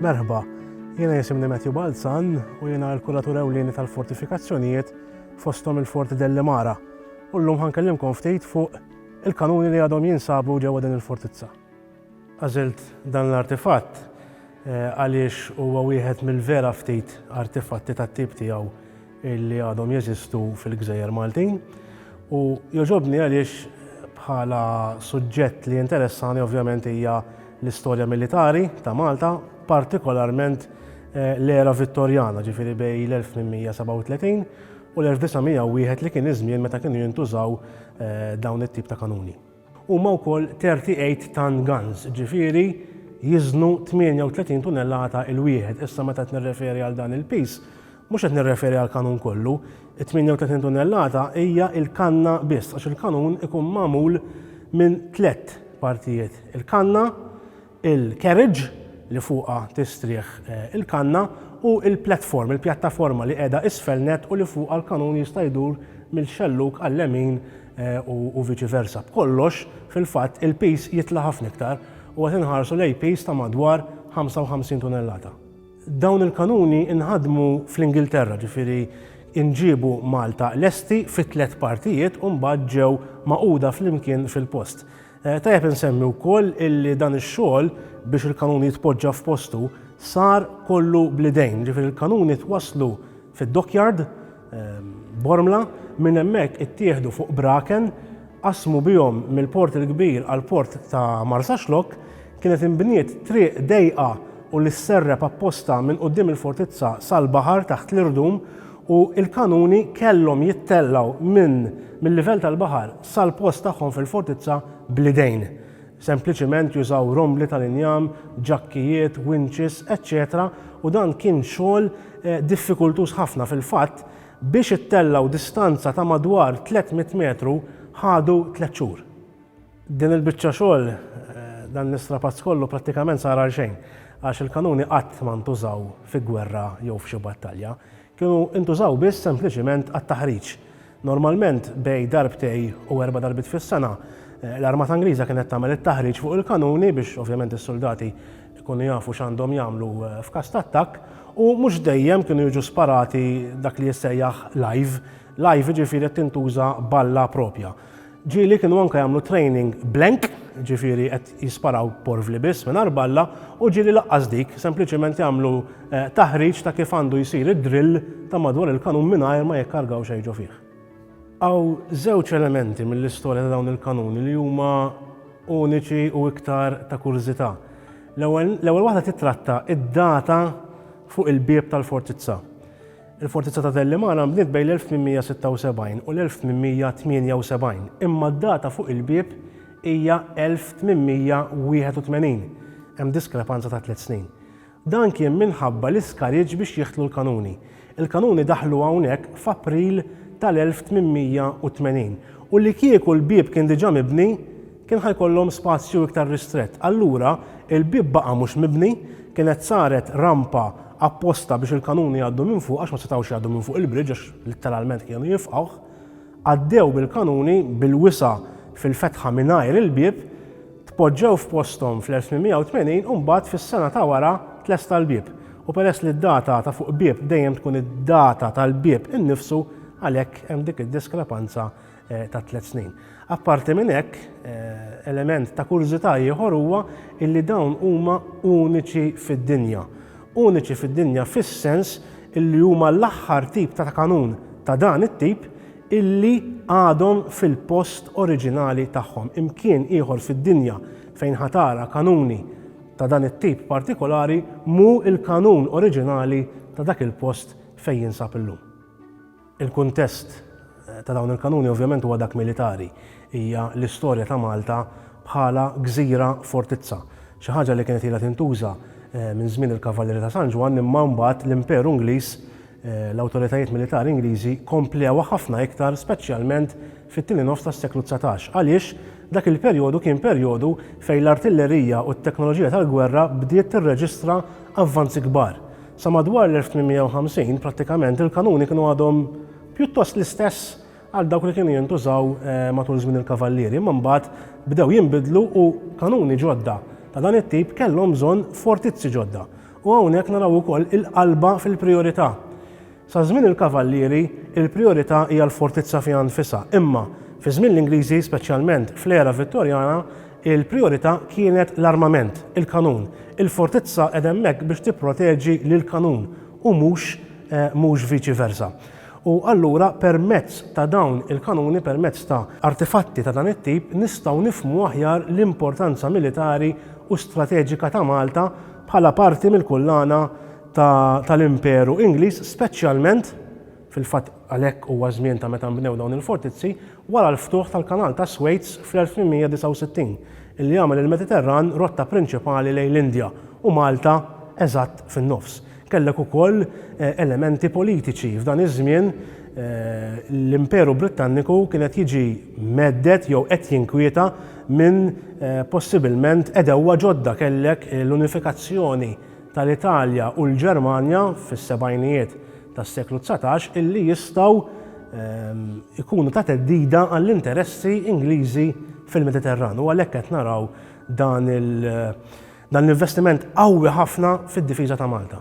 Merħba, jiena jisimni Matthew Balzan u jiena l-kuratur ewlieni tal-fortifikazzjonijiet fostom il-Forti Delli Mara. U llum ħankellimkom ftit fuq il-kanuni li għadhom jinsabu ġewwa din il-fortizza. Għażilt dan l-artifatt għaliex huwa wieħed mill-vera ftit artifatti tat-tip tiegħu li għadhom jeżistu fil-gżejjer Maltin u jogħġobni għaliex bħala suġġett li jinteressani ovvjament hija l-istorja militari ta' Malta, partikolarment l-era Vittorjana, ġifieri bejn l-1837 u l-1901 li kien iż-żmien meta kienu jintużaw dawn it-tip ta' kanuni. Huma wkoll 38 ton guns, ġifieri jiżnu 38 tunellata l-wieħed. Issa meta qed nirreferi għal dan il-piż, mhux qed nirreferi għall-kanun kollu. It-38 tunellata hija l-kanna biss għax il-kanun ikun magħmul minn tlett partijiet, il-kanna, il-carriage li fuqha tistrieħ il-kanna u l-platform, il-pjattaforma li qiegħda isfel nett u li fuqha l-kanun jista' jdur mill-xellug għal-lemin u viċi versa. B'kollox, fil-fatt, il-piż jitla' ħafna iktar u qed inħarsu lejn piż ta' madwar 55 tunellata. Dawn il-kanuni nħadmu fl-Ingilterra, ġifieri nġiebu Malta lesti fi tliet partijiet u mbagħad ġew magħquda flimkien fil-post. Eh, tajjeb insemmi wkoll illi dan ix-xogħol biex il-kanun jitpoġġa f'postu sar kollu blidejn, ġifier il-kanuni twasslu fid-dockyard ehm, Bormla minn hemmhekk ittieħdu fuq braken qasmu bihom mill-port il-kbir għal port ta' Marsa Xlok kienet inbniet triq dejqa u li sserreb apposta minn qudiem il-fortizza sal-baħar taħt l-irdum u l-kanuni kellhom jittellgħu minn mil-livell tal-baħar sal-post tagħhom fil-fortizza bl-idejn. Sempliċiment jużaw rombli tal-injam, ġakkijiet, winches, eċċetera u dan kien xogħol diffikultuż ħafna, fil-fatt, biex ittellgħu distanza ta' madwar 300 metru ħadu tliet xhur. Din il-biċċa xogħol, dan l-istrapazz kollu prattikament sar għal xejn, għax il-kanuni qatt ma ntużaw fi gwerra jew f'xi battalja. Kienu intużaw biss sempliċiment għat-taħriġ. Normalment bejn darbtej u erba' darbiet fis-sena, l-Armata Ingliża kienet tagħmel it-taħriġ fuq il-kanuni biex ovvjament is-suldati jkunu jafu x'għandhom jagħmlu f'każ ta' attakk u mhux dejjem kienu jiġu sparati dak li jissejjaħ live. Live jiġifieri qed tintuża balla proprja. Ġieli kienu anke jagħmlu training blank, ġifieri qed jisparaw porvli biss minn arballa, u ġieli laqqas dik, sempliċiment jagħmlu eh, taħriġ ta' kif għandu jsir id-drill ta' madwar il-kanun mingħajr ma jikkargaw xejn ġo fih. Għaw żewġ elementi mill-istorja ta' dawn il-kanuni li huma uniċi u iktar ta' kurżità. L-ewwel waħda titratta id-data fuq il-bieb tal-fortizza. Il-Fortizza ta' Dellimana nbniet bejn l-1876 u l-1878, imma d-data fuq il-bieb hija 1881, hemm diskrepanza ta' tliet snin. Dan kien minħabba l-iskariġġ biex jidħlu l-kanuni. Il-kanuni daħlu hawnhekk f'April tal-1880 u li kieku l-bieb kien diġà mibni, kien ħa jkollhom spazju iktar ristrett. Allura, il-bieb baqa' mhux mibni, kienet saret rampa apposta biex il-kanuni jgħaddu minn fuq għax ma setgħux jgħaddu minn fuq il-bridge għax litteralment kienu jifqgħuh. Għaddew bil-kanuni bil-wisa' fil-fetħa mingħajr il-bieb, tpoġġew f'posthom fl-1880 u mbagħad fis-sena ta' wara tlesta l-bieb. U peress li d-data ta' fuq bieb dejjem tkun id-data tal-bieb innifsu, għalhekk hemm dik id-diskrepanza Eh, ta' tliet snin. Apparti minn hekk, eh, element ta' kurżità ieħor huwa illi dawn huma uniċi fid-dinja. Uniċi fid-dinja fis-sens illi huma l-aħħar tip ta' kanun ta' dan it-tip illi għadhom fil-post oriġinali tagħhom. Imkien ieħor fid-dinja fejn ħatara kanuni ta' dan it-tip partikolari mu il-kanun oriġinali ta' dak il-post fejn jinsab illum. Il-kuntest ta' dawn il-kanuni ovvjament huwa dak militari. Hija l-istorja ta' Malta bħala gżira fortizza. Xi ħaġa li kienet ilha tintuża minn żmien il-Kavallieri ta' San Ġwann imma mbagħad l-Imperu Ingliż, l-awtoritajiet militari Ingliżi komplewha ħafna iktar speċjalment fit-tieni nofs tas-seklu dsatax għaliex dak il-perjodu kien perjodu fejn l-artillerija u t-teknoloġija tal-gwerra bdiet tirreġistra avvanzi kbar. Sa madwar l-1850, prattikament il-kanuni kienu għadhom pjuttost l-istess għal dawk li kienu jintużaw matul żmien il-kavallieri, imma mbagħad bdew jinbidlu u kanuni ġodda ta' dan it-tip kellhom bżonn fortizzi ġodda. U hawnhekk naraw ukoll il-qalba fil-prijorità. Sa żmien il-Kavallieri, il-prijorità hija l-fortizza fiha nfisha, imma, fi żmien l-Ingliżi, speċjalment fl-era Vittorjana, il-prijorità kienet l-armament, il-kanun. Il-fortizza qegħda hemmhekk biex tipproteġi lill-kanun u mhux mhux viċi versa. U allura permezz ta' dawn il-kanuni, permezz ta' artifatti ta' dan it-tip, nistgħu nifhmu aħjar l-importanza militari u strateġika ta' Malta bħala parti mill-kullana tal-Imperu Ingliż, speċjalment, fil-fatt għalhekk huwa ż-żmien ta' meta nbnew dawn il-fortizzi, wara l-ftuħ tal-Kanal tas-Suez fl-1869, illi għamel il-Mediterran rotta prinċipali lejn l-Indja, u Malta eżatt fin-nofs. Kellek ukoll elementi politiċi. F'dan iż-żmien l-Imperu Brittanniku kien qed jiġi mhedded jew qed jinkwieta minn possibilment għedewwa ġodda. Kellek l-unifikazzjoni tal-Italja u l-Ġermanja fis-sebgħinijiet tas-seklu dsatax illi jistgħu jkunu ta' theddida għall-interessi Ingliżi fil-Mediterran u għalhekk qed naraw dan l-investiment qawwi ħafna fid-difiża ta' Malta.